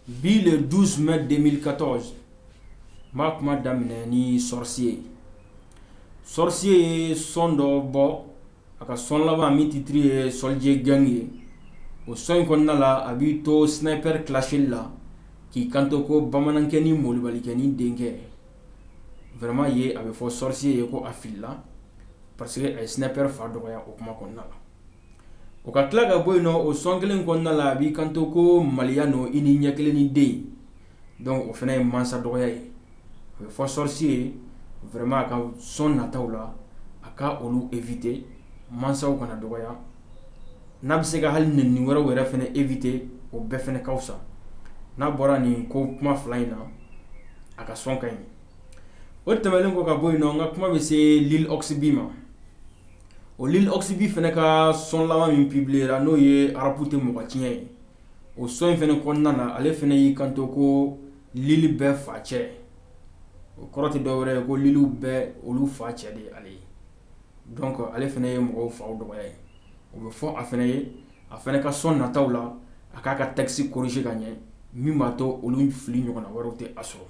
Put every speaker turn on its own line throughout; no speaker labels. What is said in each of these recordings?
Bi le 12 mai 2014 n b'a kuma daminɛ ni Sorcier ye Sorcier ye sɔn dɔ bɔ a ka sɔn laban min titiri ye Soldier Gang ye o sɔn in kɔnɔna la a b'i to Sniper clasheli la k'i kanto ko bamanankɛnin malobalikɛnin denkɛ vraiment ye a bɛ fɔ Sorcier ye ko a filila parce que a ye Sniper fa dɔgɔya o kuma kɔnɔna la o ka tila ka bɔ yen nɔ o sɔn kelen kɔnɔna la a b'i kanto ko maliya n i ni ɲɛkelennin den donc o fana ye mansa dɔgɔya ye a bɛ fɔ Sorcier ye vraiment a ka sɔn nataw la a ka olu éviter mansaw kana dɔgɔya n'a bɛ se ka hali neni wɛrɛw yɛrɛ fana éviter o bɛɛ fana ka fisa n'a bɔra nin ko kuma fila in na a ka sɔn ka ɲi o tɛmɛnen kɔ ka bɔ yen nɔ n ka kuma bɛ se Lil Ox B ma O Lil Ox B fana ka sɔn laban min pibiliyera n'o ye arapu tɛ mɔgɔ tiɲɛ ye o sɔn in fana kɔnɔna na ale fana y'i kanto ko Lil bɛɛ facɛ o kɔrɔ tɛ dɔ wɛrɛ ye ko Lilw bɛɛ olu facɛ de ye ale ye donc ale fana ye mɔgɔw faw dɔgɔya ye o bɛ fɔ a fana ye a fana ka sɔn nataw la a k'a ka texte corriger ka ɲɛ min b'a to olu fili ɲɔgɔnna wɛrɛw tɛ a sɔrɔ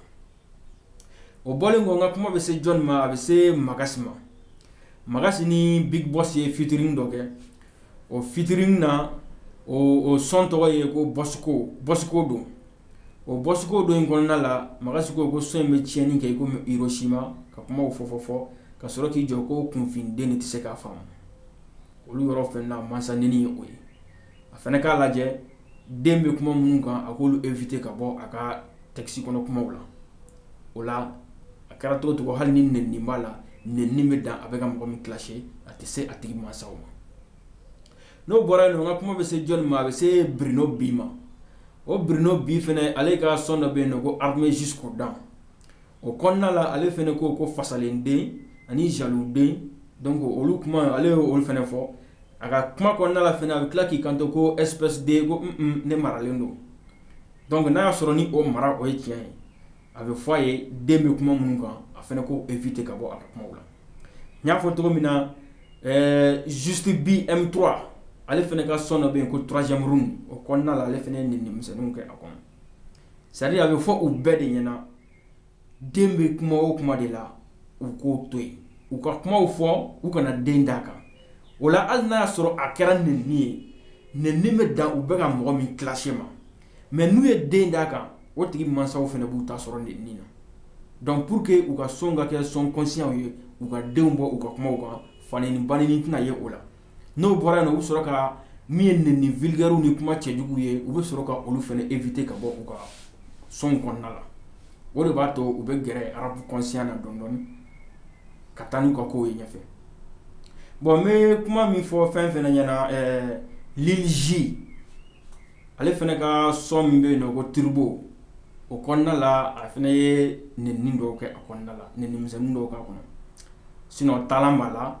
o bɔlen kɔ n ka kuma bɛ se jɔn ma a bɛ se Magasi ma Magasi ni Big Boss ye featuring dɔ kɛ o featuring na o sɔn tɔgɔ ye ko Boss ko don o Boss ko don in kɔnɔna la Magasi ko ko sɔn in bɛ tiɲɛni kɛ komi Hiroshima ka kuma fɔ fɔ fɔ ka sɔrɔ k'i jɔ ko kunfinden tɛ se k'a faamu olu yɔrɔ fɛnɛ na mansa neni ye o ye a fana k'a lajɛ den bɛ kuma minnu kan a k'olu éviter ka bɔ a ka texte kɔnɔ kumaw la o la a kɛra cogo o cogo hali ni neni b'a la neni bɛ dan a bɛ ka mɔgɔ min clasher a tɛ se a tigi mansaw ma n'o bɔra yen nɔ n ka kuma bɛ se jɔn ma a bɛ se Bruno B ma o Bruno B fana ale ka sɔn dɔ bɛ yen nɔ ko Armé jusqu'aux dents o kɔnɔna la ale fana ko ko fasalenden ani jaluden donc olu kuma ale ye olu fana fɔ a ka kuma kɔnɔna la fana a bɛ tila k'i kanto ko espèce de ko ne maralen don donc n'a y'a sɔrɔ ni o mara o ye tiɲɛ ye a bɛ fɔ a ye den bɛ kuma minnu kan a fana k'o éviter ka bɔ a ka kuma la n y'a fɔ cogo min na Juste B M3 ale fana ka sɔn dɔ bɛ yen ko troisième round o kɔnɔna la ale fana ye neni misɛnw kɛ a kɔnɔ c'est-à-dire a bɛ fɔ u bɛɛ de ɲɛna den bɛ kuma o kuma de la u k'o to yen u ka kumaw fɔ u kana den d'a kan o la hali n'a y'a sɔrɔ a kɛra neni ye neni bɛ dan u bɛ ka mɔgɔ min clasher ma mais n'u ye den d'a kan o tigi mansaw fana b'u ta sɔrɔ neni na donc pour que u ka sɔn ka kɛ sɔn conscientw ye u ka denw bɔ u ka kumaw kan faneni baneni tɛna ye o la n'o bɔra yen u bɛ sɔrɔ ka min ye nenini vulgaire ni kuma cɛjugu ye u bɛ sɔrɔ ka olu fana éviter ka bɔ u ka son kɔnɔna la o de b'a to u bɛ gɛrɛ rap conscient na dɔɔni dɔɔni ka taa n'u ka kow ye ɲɛfɛ bon n bɛ kuma min fɔ fɛn fana ɲɛna ɛɛ Lil Z ale fana ka son min bɛ yen nɔ ko Turbo o kɔnɔna la a fana ye neni dɔw kɛ a kɔnɔna la neni misɛnnin dɔw k'a kɔnɔ sinon taa b'a la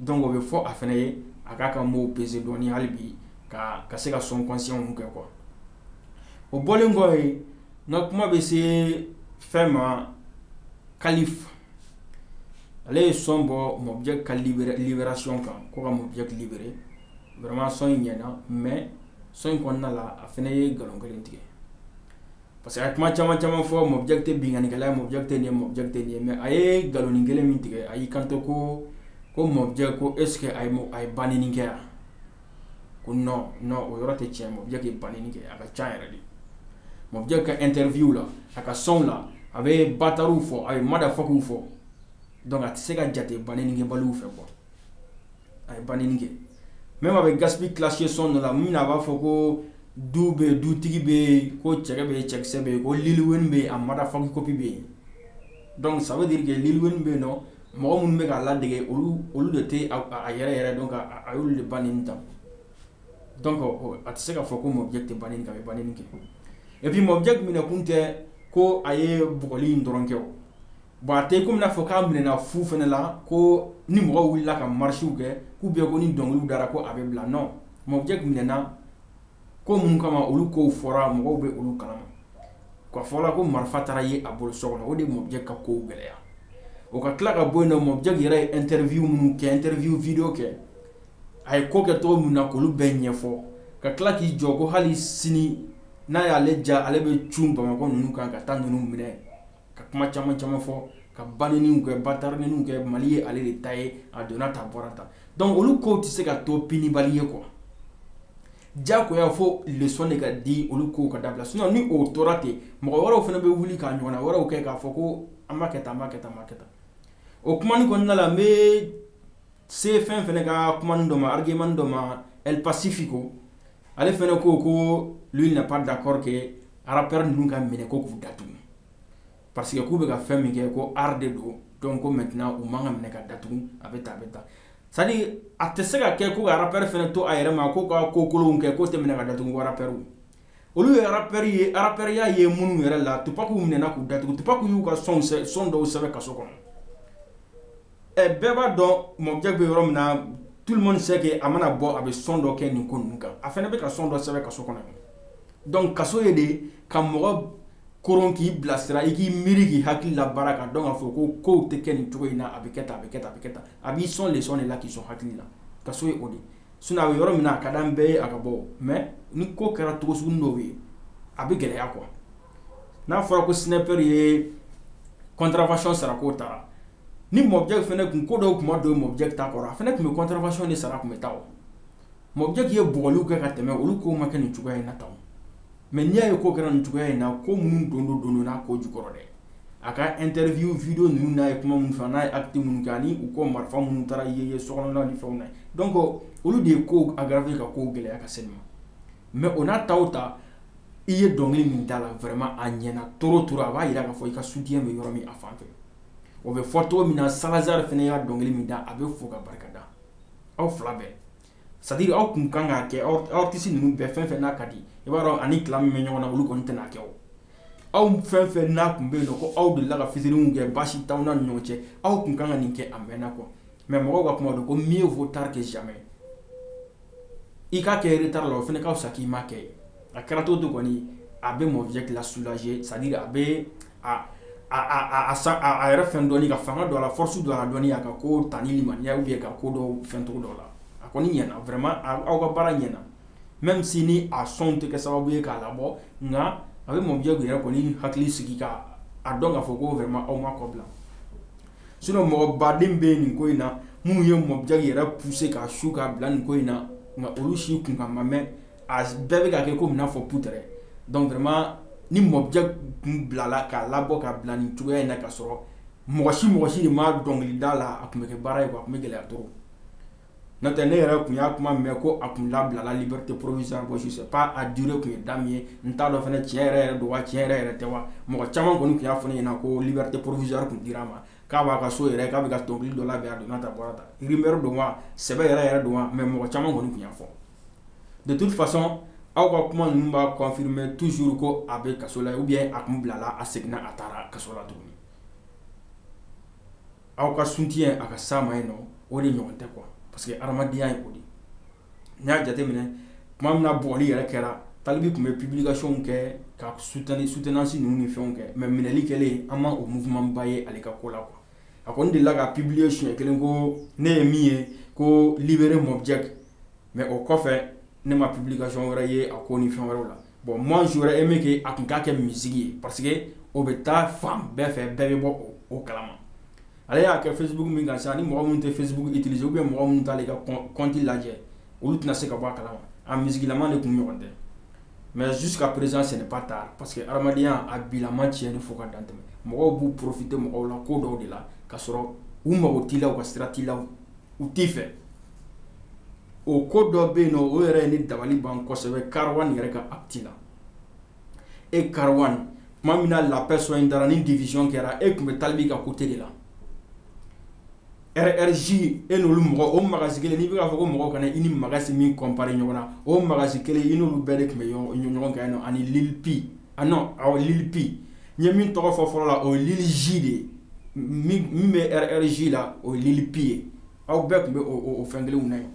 Donc o bɛ fɔ a fana ye a k'a ka mots peser dɔɔni hali bi ka ka se ka son conscient kɛ quoi o bɔlen kɔ yen n ka kuma bɛ se fɛn ma Khalif ale ye son bɔ Mobjack ka libération kan ko ka Mobjack libérer vraiment son in ɲɛna mais son in kɔnɔna la a fana ye nkalon kelen tigɛ Parce que a ye kuma caman caman fɔ mɔ jakite binkannikɛla mɔ jakite nin mɔ jakite nin mɛ a ye nkaloni kelen min tigɛ a y'i kanto ko ko mɔ jɛ ko e sigi a a ye ban kɛ yan ko o yɔrɔ tɛ cɛ mɔ jaki ban kɛ a ka ca yɛrɛ de mɔ bɛ ka n terirffinw la a ka sɔnw la a bɛ ba taw fɔ a ye mada fɔw fɔ dɔnku a tɛ se ka jate ban kɛ balow fɛ kuwa a ye ban kɛ mɛ ma bɛ gasi kilasiye son dɔ la min a b'a fɔ ko du bɛ dutigi bɛ yen ko cɛ bɛ ye cɛkisɛ bɛ yen ko li bɛ yen a mada fɔki coppi bɛ yen dɔnku saba de kɛ li bɛ yen dɔn mɔgɔ minnu bɛ k'a lade olu olu de tɛ a yɛrɛ yɛrɛ dɔn a y' de ban ta Donc a tɛ se k'a fɔ ko Mobjack tɛ baneni kɛ a bɛ baneni kɛ et puis Mobjack minɛ kun tɛ ko a ye bugɔli in dɔrɔn kɛ bon a tɛ kɔmi i b'a fɔ k'a minɛ fu fana la ko ni mɔgɔ wulila ka marchew kɛ k'u bɛ ko ni dɔnkili dara ko a bɛ bila non Mobjack minɛna ko minnu kama olu ko fɔra mɔgɔw bɛ olu kalama k'a fɔ ko marifa taara ye a bolo so kɔnɔ o de Mobjack ka ko gɛlɛya o ka tila ka bɔ yen Mobjack yɛrɛ ye interview minnu kɛ interview vidéow kɛ A ye ko kɛ cogo min na k'olu bɛɛ ɲɛfɔ ka tila k'i jɔ ko hali sini n'a y'ale ja ale bɛ cun Bamakɔ ninnu kan ka taa ninnu minɛ ka kuma caman caman fɔ ka baneni kɛ batara ninnu kɛ mali ye ale de ta ye a donna tan bɔra tan donc olu ko tɛ se ka to punibali ye quoi jako i y'a fɔ leçon de ka di olu ko ka dabila sinon ni o tora ten mɔgɔ wɛrɛw fana bɛ wuli k'a ɲɔgɔn wɛrɛw kɛ k'a fɔ ko an b'a kɛ tan kɛ tan kɛ tan o kuma kɔnɔna la n Se fɛn fana ka kuma dɔ ma argument dɔ ma El Pacifico ale fana ko ko lui n'est pas d'accord que rappeur ninnu ka minɛ ko k'u datugu parce que k'u bɛ ka fɛn min kɛ ko art de don donc ko maintenant u man kan ka minɛ ka datugu a bɛ taa a bɛ taa c'est-à-dire a tɛ se ka kɛ ko rappeur fana to a yɛrɛ ma ko ka ko kolon kɛ ko tɛ minɛ ka datugu ko rappeur olu ye rappeur ye rappeurya ye minnu yɛrɛ la Tupacw minɛna k'u datugu Tupacw y'u ka son dɔw sɛbɛn kaso kɔnɔ ɛ bɛɛ b'a dɔn Mobjack bɛ yɔrɔ min na tout le monde sait que a mana bɔ a bɛ son dɔ kɛ nin ko ninnu kan a fana bɛ ka son dɔ sɛbɛn kaso kɔnɔ donc kaso ye de ka mɔgɔ koron k'i bilasira i k'i miiri k'i hakili labaara k'a dɔn k'a fɔ ko kow tɛ kɛ nin cogo in na a bɛ kɛ tan a bɛ kɛ tan a bɛ kɛ tan a b'i sɔn leçon de la k'i sɔn hakili la kaso ye o de ye sinon a bɛ yɔrɔ min na a ka d'an bɛɛ ye a ka bɔ o mais ni ko kɛra cogo sugunin dɔw ye a bɛ gɛlɛya quoi N'a fɔra ko Sniper ye contravention sara ko taara ni Mobjack fana tun ko dɔw tuma don Mobjack ta kɔrɔ a fana tun bɛ contravention de sara tun bɛ taa Mobjack ye bugɔli kɛ ka tɛmɛ olu k'o ma kɛ nin cogoya in na tan mais n'i y'a ye ko kɛra nin cogoya in na ko minnu don don donna ko jukɔrɔ dɛ a ka interview vidéo ninnu n'a ye kuma min fɔ n'a ye acte minnu kɛ ani u ko marifa minnu taara ye ye so kɔnɔ ni fɛnw na donc olu de ye ko aggraver ka ko gɛlɛya ka se ma mais o n'a ta o ta i ye dɔnkili min da la vraiment a ɲɛna cogo o cogo a b'a jira k'a fɔ i ka soutien bɛ yɔrɔ min a fan fɛ o bɛ fɔ cogo min na Salazar fana ye dɔnkili min da a bɛ fɔ ka barika da aw fila bɛɛ c'est-à-dire aw tun kan k'a kɛ artiste ninnu bɛɛ fɛn fɛn n'a ka di i b'a dɔn ani clash min bɛ ɲɔgɔn na olu kɔni tɛna n'a kɛ aw fɛn fɛn n'a tun bɛ yen ko aw delila ka featuringw kɛ baasi t'aw ni ɲɔgɔn cɛ aw tun kan ka nin kɛ a mɛnna kɔ mais mɔgɔw ka kuma don ko mieux vaut tard que jamais i k'a kɛ retard la o fana ka fisa k'i ma kɛ a kɛra cogo o cogo kɔni a bɛ Mobjack la soulager c'est-à-dire a bɛ a yɛrɛ fɛn dɔɔni ka fanga don a la force don a la dɔɔni a ka ko tan ni ma ɲɛ ye ka ko dɔ fɛn cogo dɔ la a kɔni ɲɛna vraiment aw ka baara ɲɛna même si ni a son tɛ kɛ sababu ye k'a labɔ nka a bɛ Mobjack yɛrɛ kɔni hakili sigi k' a dɔn k'a fɔ ko vraiment aw m'a kɔ bila Sinon mɔgɔ baden bɛ nin ko in na minnu ye Mobjack yɛrɛ pousser k'a su k'a bila nin ko in na nka olu si kunkan ma mɛn a bɛɛ bɛ ka kɛ komi n'a fɔ peut-être donc vraiment ni Mobjack tun bilala k'a labɔ k'a bila nin cogoya in na ka sɔrɔ mɔgɔ si mɔgɔ si de ma dɔnkili da a la a tun bɛ kɛ baara ye a tun bɛ gɛlɛya to N'o tɛ ne yɛrɛ tun y'a kuma mɛn ko a tun labilala liberté provisoire bon je sais pas a durée tun ye da ye n t'a dɔn fana tiɲɛ yɛrɛ yɛrɛ don wa tiɲɛ yɛrɛ yɛrɛ tɛ wa mɔgɔ caman kɔni tun y'a fɔ ne ɲɛna ko liberté provisoire tun dira a ma k'a b'a ka so yɛrɛ k'a bɛ ka dɔnkili dɔ labɛn a donna ta bɔra ta rumeur don wa sɛbɛ yɛrɛ yɛrɛ don mais mɔgɔ caman kɔni tun y'a fɔ de toute façon aw ka kuma ninnu b'a confirmer toujours ko a bɛ kaso la ou a tun bilala a seginna a taara kaso la tuguni Aw ka sun tɛ a ka sa ma in o de ɲɔgɔn tɛ kuwa parce que hadenyaya ye o de n y'a jateminɛ tuma min bli yɛrɛ kɛra talibi tun bɛ ppibilikasiɔn kɛ ka su tan ni su tɛnasi ninnu ni fɛn kɛ mɛ minɛli kɛlen an ma o muba ye ale ka ko la kuwa a ko n de la ka ppibiliye sonɲɛ kelen ko ne ye min ye ko bri mɔ cɛ mais o kɔfɛ ne ma publication wɛrɛ ye a ko ni fɛn wɛrɛ la bon moi j'aurais aimé que a tun k'a kɛ musique ye parce que o bɛ taa fan bɛɛ fɛ bɛɛ bɛ bɔ o kalama ale y'a kɛ Facebook min kan sa ni mɔgɔ minnu tɛ Facebook utiliser ou bien mɔgɔ minnu t'a ka compte lajɛ olu tɛna se ka bɔ a kalama a musiquelama de tun ɲɔgɔn tɛ mais jusqu'à présent c'est pas tard parce que hadamadenya a bilama tiɲɛnen fo ka dan tɛmɛ mɔgɔw b'u profiter mɔgɔw la ko dɔw de la ka sɔrɔ u mago t'i la u ka sira t'i la u t'i fɛ o ko dɔ bɛ yen nɔn o yɛrɛ ye ne dabali ban kosɛbɛ Karawan yɛrɛ ka acte la e Karawan tuma min na la paix son in dara ni division kɛra e tun bɛ talibi ka côté de la RRJ e n'olu mɔgɔ o Magasi kelen n'i bɛ k'a fɔ ko mɔgɔw kana i ni Magasi min comparer ɲɔgɔn na o Magasi kelen i n'olu bɛɛ de tun bɛ ɲɔgɔn kan yen nɔ ani Lil P a non awɔ Lil P n ye min tɔgɔ fɔ fɔlɔ la o ye Lil J de ye min bɛ RRJ la o ye Lil P ye aw bɛɛ tun bɛ o fɛn kelen na yen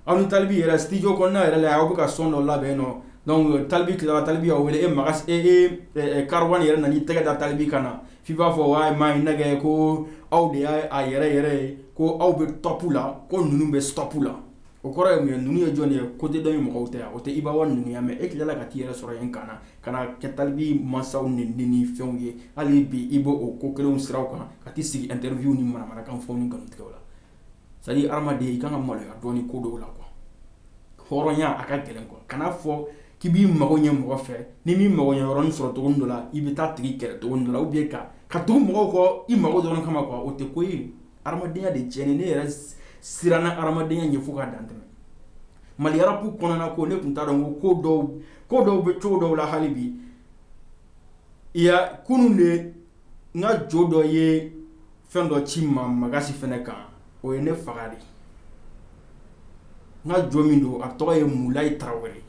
aw ni talibi yɛrɛ studio kɔnɔna yɛrɛ la aw bɛ ka son dɔ labɛn nɔ donc talibi tilala talibi y'aw wele e ma e Karawan yɛrɛ nan'i tɛgɛ da talibi kan na f'i b'a fɔ wa maa ye nɛgɛ ko aw de y'a a yɛrɛ yɛrɛ ye ko aw bɛ top la ko ninnu bɛ stop la O kɔrɔ ye mun ye ninnu ye jɔn ye côté dɔ in mɔgɔw tɛ wa o tɛ Ibawa ninnu ye wa mais e tilala ka t'i yɛrɛ sɔrɔ yen kan na ka na kɛ talibi mansaw nenni ni fɛnw ye hali bi i bɛ o ko kelenw siraw kan ka t'i sigi interview ni manamanakan fɔw ni nkalontigɛw la c'est à dire hadamaden i ka kan ka maloya dɔɔnin ko dɔw la quoi hɔrɔnya a ka gɛlɛn quoi kana fɔ k'i b'i mago ɲɛ mɔgɔ fɛ n'i m'i mago ɲɛ yɔrɔnin sɔrɔ cogonin dɔ la i bɛ taa tigi kɛlɛ cogonin dɔ la ou bien ka ka tugu mɔgɔw kɔ i mago dɔrɔn kama quoi o tɛ ko ye. hadamadenya de tiɲɛnen ne yɛrɛ siranna hadamadenya ɲɛ fo ka dan tɛmɛ Mali rap kɔnɔna ko ne tun t'a dɔn ko ko dɔw ko dɔw bɛ cogo dɔw la hali bi kunun de n ka jo dɔ ye fɛn dɔ ci n ma Magasi fana kan o ye ne faga de n ka jo min don a tɔgɔ ye mulayi tarawele ye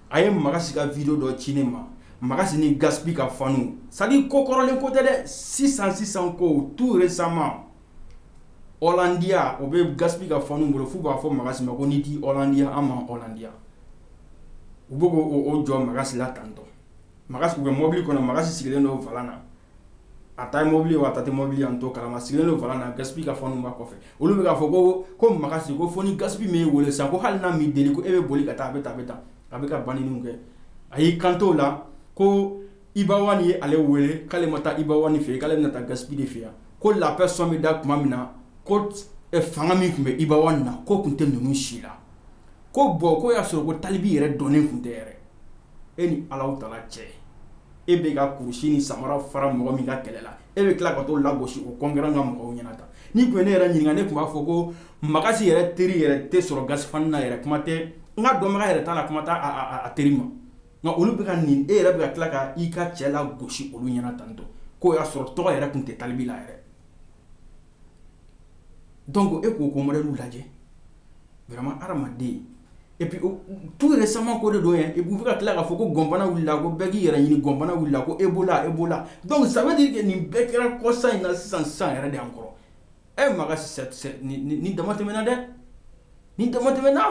a ye Magasi ka video dɔ ci ne ma Magasi ni Gaspy ka faniw c'est à dire ko kɔrɔlen ko tɛ dɛ sisan sisan kow tout récemment Hollandia o bɛ Gaspy ka faniw bolo f'u b'a fɔ Magasi ma ko n'i t'i Hollandia an m'an Hollandia u bɛ k'o o jɔ Magasi la tantôt Magasi u bɛ mɔbili kɔnɔ Magasi sigilen don volant na a ta ye mobili wa a ta tɛ mobili an t'o kalama sigilen don volant na Gaspy ka faniw b'a kɔfɛ olu bɛ k'a fɔ ko ko Magasi ko fo ni Gaspy m'i weele sa ko hali n'a m'i deli ko e bɛ boli ka taa a bɛ taa a bɛ taa a bɛ ka banni kɛ a y'i kanto la ko Ibawa ye ale weele k'ale ma taa Ibawa fɛ k'ale bɛna taa Gaspy de fɛ yan ko la paix son bɛ da tuma min na ko fanga min tun bɛ Ibawa na k'o tun tɛ ninnu si la ko bon ko y'a sɔrɔ ko talibi yɛrɛ dɔnnen tun tɛ yɛrɛ e ni ala ta cɛ e bɛ ka kurusi ni samara fara mɔgɔ min ka kɛlɛ la e bɛ tila ka t'o lagosi o concurrent ka mɔgɔw ɲɛna tan ni tun ye ne yɛrɛ ɲininka ne tun b'a fɔ ko Magas yɛrɛ teri yɛrɛ tɛ sɔrɔ Gaspi fan na yɛrɛ kuma tɛ n ka dɔnbaga yɛrɛ t'a la kuma tɛ a teri ma nka olu bɛ ka nin e yɛrɛ bɛ tila ka i ka cɛ lagosi olu ɲɛna tantɔn k'o y'a sɔrɔ tɔgɔ yɛrɛ tun tɛ Talibi la yɛrɛ donc e k'o ko modèle lajɛ hadamaden Et puis tout récemment ko de don et puis ka tila k'a fɔ ko gɔnbana wulila ko bɛɛ k'i yɛrɛ ɲini gɔnbana wulila ko Ebola Ebola donc ça veut dire que nin bɛɛ kɛra kɔsa in na sisan sisan yɛrɛ de an kɔrɔ e Magas ni dama tɛmɛna dɛ ni dama tɛmɛna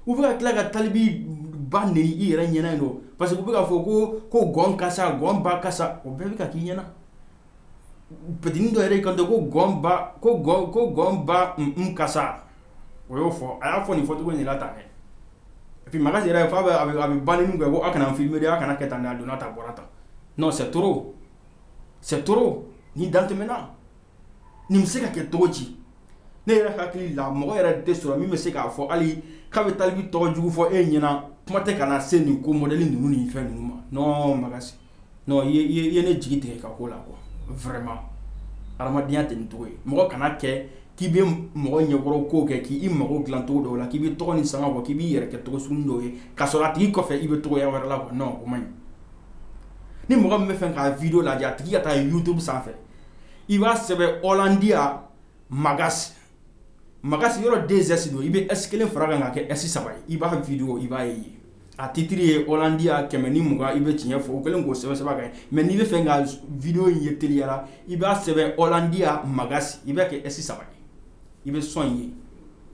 u bɛ ka tila ka Talibi ba neni i yɛrɛ ɲɛna yen nɔ parce que u bɛ k'a fɔ ko ko gɔn kasa gɔn ba kasa o bɛɛ bɛ ka k'i ɲɛna petini dɔ yɛrɛ kan ko gɔnba ko ko gɔnba ka sa o y'o fɔ a y'a fɔ nin fɔcogo in na tan et puis Magas yɛrɛ f'a bɛ a bɛ banni kɛ ko aw kana filmer dɛ a kana kɛ tan dɛ a donna tan a bɔra tan c'est trop c'est trop ni dan tɛmɛna nin bɛ se ka kɛ cogo di ne yɛrɛ hakili la mɔgɔ yɛrɛ tɛ sɔrɔ min bɛ se k'a fɔ hali k'a bɛ Talibi tɔgɔjugu fɔ e ɲɛna kuma tɛ ka na se nin ko modèle ninnu ni fɛn ninnu ma Magas non i ye ne jigi tigɛ i ka ko la quoi vraiment hadamadenya tɛ nin cogo ye mɔgɔ kana kɛ k'i bɛ mɔgɔ ɲɛkɔrɔ kow kɛ k'i mago dilan cogo dɔw la k'i bɛ tɔgɔ ni sanga bɔ k'i b'i yɛrɛ kɛ tɔgɔ sugunin dɔw ye k'a sɔrɔ a tigi kɔfɛ i bɛ cogoya wɛrɛ la quoi non o man ɲi ni mɔgɔ min bɛ fɛ k'a video lajɛ a tigi ka taa YouTube sanfɛ i b'a sɛbɛn Hollandia Magas Magas yɔrɔ deux S don i bɛ S kelen far'a kan k'a kɛ S saba ye i b'a video i b'a ye yen A titre ye Hollandia kɛmɛ ni mugan i bɛ tiɲɛ fɔ o kɛlen k'o sɛbɛn a kan mais n'i bɛ fɛ ka video in ye teliyara i b'a sɛbɛn Hollandia Magas i b'a kɛ S saba ye i bɛ son in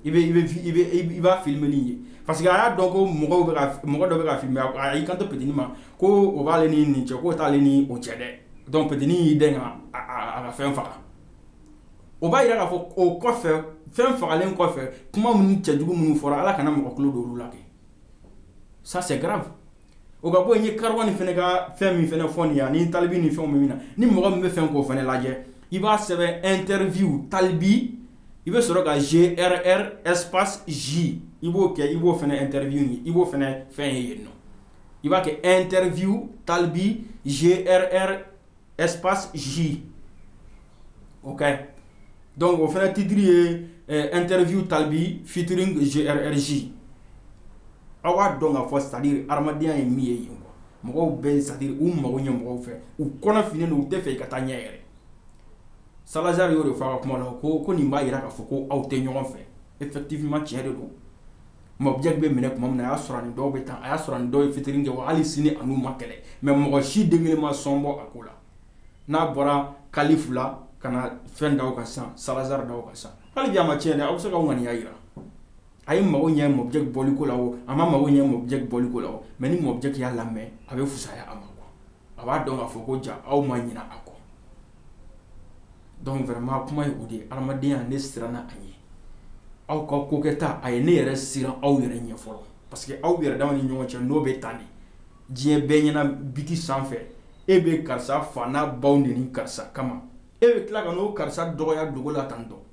ye i b'a film in ye parce que a y'a dɔn ko mɔgɔ mɔgɔ dɔ bɛ ka filmer a y'i kanto petini ma ko o b'ale ni nin cɛ k'o t'ale ni o cɛ dɛ donc petini y'i dɛmɛ ka fɛn faga o b'a yira k'a fɔ o kɔfɛ fɛn fagalen kɔfɛ kuma minnu cɛ jugu minnu fɔra ala kana mɔgɔ tulo don olu la ça c'est grave o ka bɔ yen, n ye Karawani fɛnɛ ka fɛn min fɛnɛ fɔ nin ye ani talibi ni fɛnw bɛ min na, ni mɔgɔ min bɛ fɛ k'o fɛnɛ lajɛ, i b'a sɛbɛn interview talibi i bɛ sɔrɔ ka GRR espace J i b'o kɛ, i b'o fɛnɛ interview ye, i b'o fɛnɛ fɛn ye yen nɔ, i b'a kɛ interview talibi GRR ɛsp z o kɛ dɔnku o fana titiri ye n terirriffinw talibi fitiri zz aw b'a dɔn ka fɔ sadi hadenyaya ye min ye yen mɔgɔw bɛ sadi u mago ɲɛ mɔgɔw fɛ u kɔnɔ f u tɛ fɛ i ka taa ɲɛ yɛrɛ salazari y'o de fɔ ka kuma na ko ko nin b'a jira k'a fɔ ko aw tɛ ɲɔgɔn fɛ e tɛ ttifinma cɛ de don Mobjack bɛ minɛ tuma min na a y'a sɔrɔ dɔw bɛ taa a y'a sɔrɔ dɔw ye featuring kɛ wa hali sini a n'u ma kɛlɛ mais mɔgɔ si den kelen ma sɔn bɔ a ko la n'a bɔra Kalifu la ka na fɛn da a kan sisan Salazar da a kan sisan hali bi a ma tiɲɛ a bɛ se ka ŋaniya jira a ye mago ɲɛ Mobjack bɔliko la a ma mago ɲɛ Mobjack bɔliko la mais ni Mobjack y'a lamɛn a bɛ fisaya a ma a b'a dɔn k'a fɔ ko ja aw ma ɲinɛ a kɔ donc vraiment kuma ye o de ye adamadenya ne siranna a ɲɛ aw ka ko kɛta a ye ne yɛrɛ siran aw yɛrɛ ɲɛ fɔlɔ parce que aw yɛrɛ dama ni ɲɔgɔn cɛ n'o bɛ tan de diɲɛ bɛɛ ɲɛna biti sanfɛ e bɛ karisa fa n'a baw neni karisa kama e bɛ tila ka n'o karisa dɔgɔya dugu la tan donc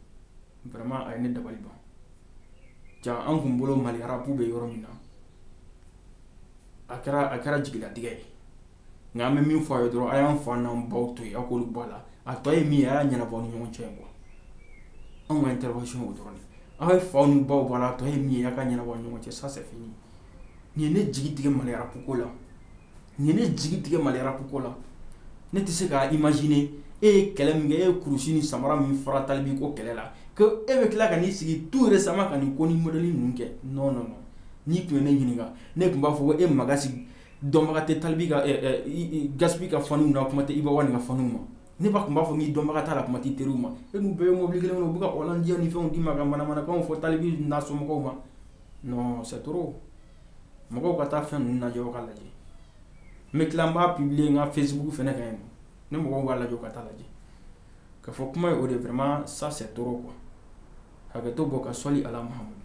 vraiment a ye ne dabali ban ja an tun bolo Mali rap bɛ yɔrɔ min na a kɛra a kɛra jigilatigɛ ye nka an bɛ min fɔ a ye dɔrɔn a y'an fa n'an baw to yen a k'olu bɔ a la a tɔ ye min ye a y'a ɲɛnabɔ ni ɲɔgɔn cɛ quoi anw ka intervention y'o dɔrɔn de ye aw ye faw ni baw bɔ a la a tɔ ye min ye a k'a ɲɛnabɔ ni ɲɔgɔn cɛ ça c'est fini nin ye ne jigi tigɛ Mali rap ko la nin ye ne jigi tigɛ Mali rap ko la ne tɛ se k'a imaginer e ye kɛlɛ min kɛ e ye kurusi ni samara min fara Talibi ko kɛlɛ la que e bɛ tila ka n'i sigi tout récemment ka nin ko ni modèle ninnu kɛ non non non n'i tun ye ne ɲininka ne tun b'a fɔ ko e ma sigi dɔnbaga tɛ Talibi Gaspi ka fanw na kuma tɛ Iba One ka fanw ma ne ba tun b'a fɔ k'i dɔnbaga t'a la kuma t'i teriw ma e n'u bɛ ye mobili kelen kɔnɔ u bɛ diya ni fɛn d'i ma ka manamanakan fɔ Talibi n'a somɔgɔw ma non c'est trop mɔgɔw ka taa fɛn ninnu lajɛ ka lajɛ n bɛ tila n b'a publier n ka Facebook fana kan yen ne mɔgɔw b'a lajɛ ka taa lajɛ K'a fɔ kuma ye o de vraiment ça c'est trop quoi hakɛto bɔ ka sɔli ala Muhamadu